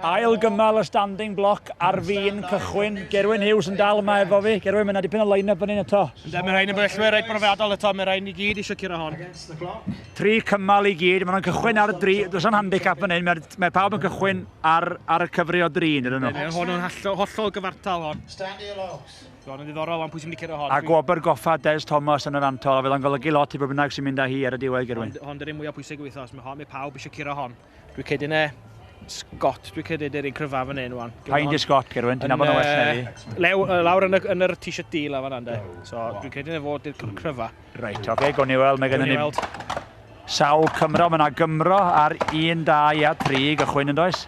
Ail gymal y standing block ar fin cychwyn. Gerwyn Hughes yn dal yma efo fi. Gerwyn, mae'n dipyn o line-up yn un eto. Ynddo, mae'n rhaid yn bellwyr reit brofiadol eto. Mae'n rhaid ni gyd eisiau curo hon. Tri cymal i gyd. Mae'n cychwyn ar y dri. Does am handicap yn hyn. Mae, mae pawb yn cychwyn ar, ar y cyfri o dri, nid nhw. Hon yn hollol gyfartal hon. Ti'n gwybod, yn ddiddorol, ond pwy sy'n mynd i cyrraedd hon? A gwobr goffa Des Thomas yn yr antol, a fydd o'n golygu lot i bwy bynnag sy'n mynd â hi ar y diwedd, Gerwyn. Hon, hon dy'r un mwyaf pwysig y wythnos, mae hon, mae pawb eisiau curo hon. Dwi'n credu ne, Scott, dwi'n credu dy'r un cryfaf fan hyn, wan. Pa un di Scott, Gerwyn? Ti'n nabod yn well na fi. Lew, lawr yn y, yn yr t-shirt deal a fan ande. So, dwi'n credu ne fod dy'r cryfaf. Reit, oce, okay, gwn i weld, mae gennym ni... Sawl Cymro, mae yna Gymro ar 1, 2 a 3 gychwyn yn does?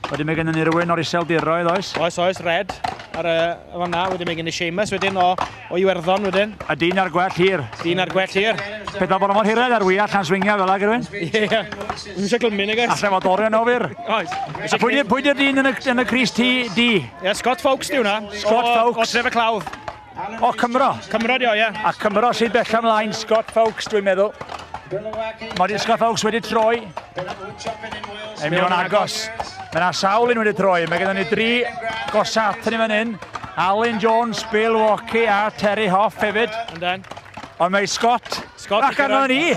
Wedyn mae gennym ni rywun o'r Iseldiroedd, oes? Oes, oes, Red. Ar y fanna, wedyn mae gen i Seamus wedyn o, o Iwerddon wedyn. A dyn ar gwell hir. Dyn ar gwell hir. Pe da bod mor hired ar wyall na'n swingio fel ag rhywun. Ie, ie. Ddim eisiau glymu, nag oes? Alla fod orion o fyr. Oes. A pwy di'r dyn yn y, yn y Cris T D? Ie, Scott Fawkes di hwnna. Scott Fawkes. O, o Tref y Clawdd. O, Cymro. Cymro di o, ie. A Cymro sydd bell amlaen, Scott Fawkes, dwi'n meddwl. Mae Scott Fawkes wedi troi. Yn mynd o'n agos. Mae yna sawl un wedi troi. Mae gennym ni dri gosat yn fan hyn. Alun Jones, Bill Walkie a Terry Hoff hefyd. Yndan. Ond mae Scott. Scott. Ac arno ni.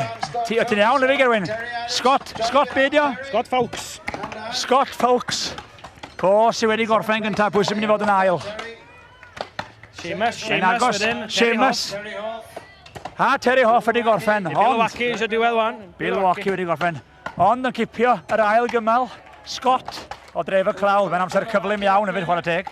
Ti, o ti'n iawn, efe Gerwyn. Scott, Scott beidio. Scott Fawkes. Scott Fawkes. Po sydd wedi gorffen gyntaf, pwy sy'n mynd i fod yn ail? Seamus, Seamus wedyn. Seamus. Ha, Terry Hoff wedi gorffen. Ond... Bill Wacky eisiau diwedd wan. Bill Wacky wedi gorffen. Ond yn cipio yr ail gymal, Scott o dref y clawdd. Mae'n amser cyflym iawn hefyd chwarae teg.